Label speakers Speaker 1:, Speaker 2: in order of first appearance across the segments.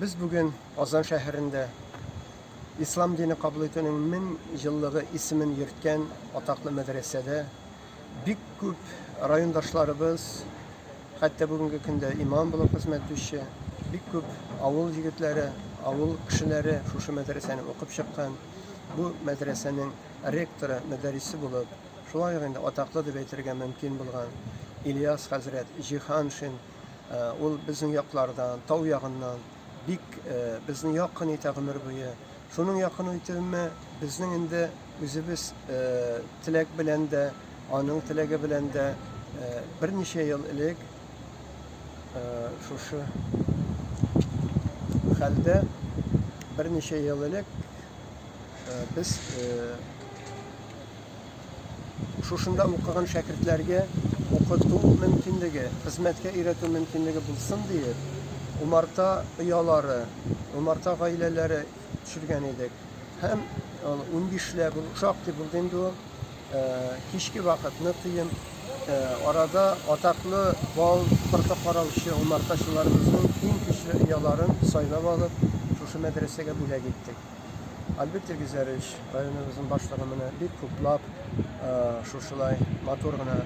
Speaker 1: Без бүген Казан шәһәрендә Ислам дине кабул итүнең 1000 еллыгы исемен йөрткән атаклы мәдрәсәдә бик күп райондашларыбыз, хәтта бүгенге көндә имам булып хезмәт итүче бик күп авыл егетләре, авыл кешеләре шушы мәдрәсәне укып чыккан. Бу мәдрәсәнең ректоры, мөдәррисе булып, шулай ук инде атаклы дип әйтергә мөмкин булган Ильяс хәзрәт Җиһаншин Ул безнең яклардан, тау ягыннан бик безне якын итә гомер буе. Шуның якын итүеме безнең инде үзебез теләк белән дә, аның теләге белән дә берничә ел элек шушы хәлдә берничә ел элек без Шушында укыган шәкертләргә укыту мөмкинлеге, хезмәткә өйрәтү мөмкинлеге булсын диеп, умарта оялары, умарта гаиләләре төшергән идек. Һәм ул унбишләп, ул шактый булды инде ул, кичке вакыт нык кыен. Арада атаклы бал, кырка караучы умартачыларыбызның иң көчле ояларын сайлап алып, шушы мәдрәсәгә бүләк иттек. Альберт Тергезәрович, районыбызның башлыгы менә бик күплап шушылай матур гына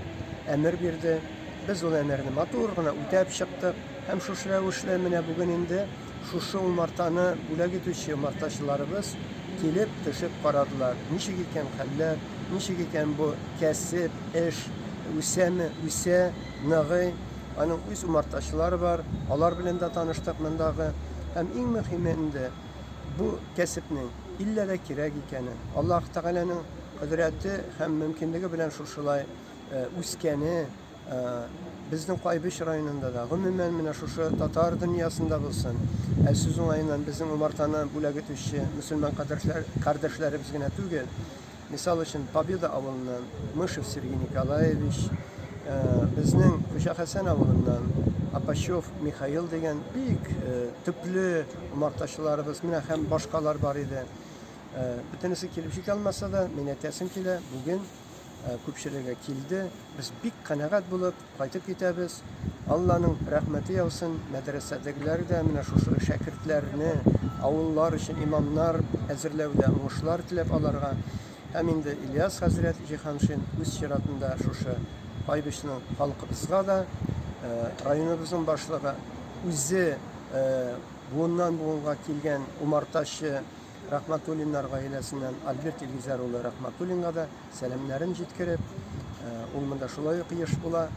Speaker 1: әмер бирде. Без ул әмерне матур гына үтәп чыктык. Һәм шушы рәвешле менә бүген инде шушы умартаны бүләк итүче умартачыларыбыз килеп төшеп карадылар. Ничек икән хәлләр, ничек икән бу кәсеп, эш, үсәме, үсә, ныгый. Аның үз умартачылары бар, алар белән дә таныштык мондагы. Һәм иң мөһиме инде бу кәсепнең иллә дә кирәк икәнен, Аллаһ Тәгаләнең кодрәте һәм мөмкинлеге белән шушылай үскәне безнең Кайбыч районында да, гомумән, менә шушы татар дөньясында булсын, ә сүз уңаеннан безнең умартаны бүләк итүче мөселман кардәшләребез генә түгел, Мисал өчен, Победа авылыннан Мышев Сергей Николаевич, безнең Хуҗа Хәсән авылыннан Апачев Михаил дигән бик төпле умартачыларыбыз, менә һәм башкалар бар иде. Бөтенесе килеп җитә алмаса да, мин әйтәсем килә, бүген күпчелеге килде. Без бик канәгать булып, Кайтып китәбез. Алланың рәхмәте яусын. Мәдрәсәдәгеләр дә менә шушы шәкертләрне авыллар өчен имамнар әзерләүдә уңышлар теләп аларга һәм инде Ильяс хәзрәт Җиһаншин үз чиратында шушы Айбичның халкыбызга да районыбызның башлыгы үзе буыннан буынга килгән умартачы Рахматуллиннар гаиләсеннән Альберт Илгизәр улы Рахматуллинга да Сәламнәрен җиткереп, ул монда шулай ук еш була.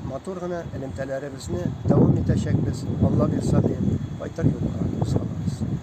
Speaker 1: Матур гына элемтәләребезне дәвам итәчәкбез, Алла бирса, диеп, кайтыр юлга кузгалабыз.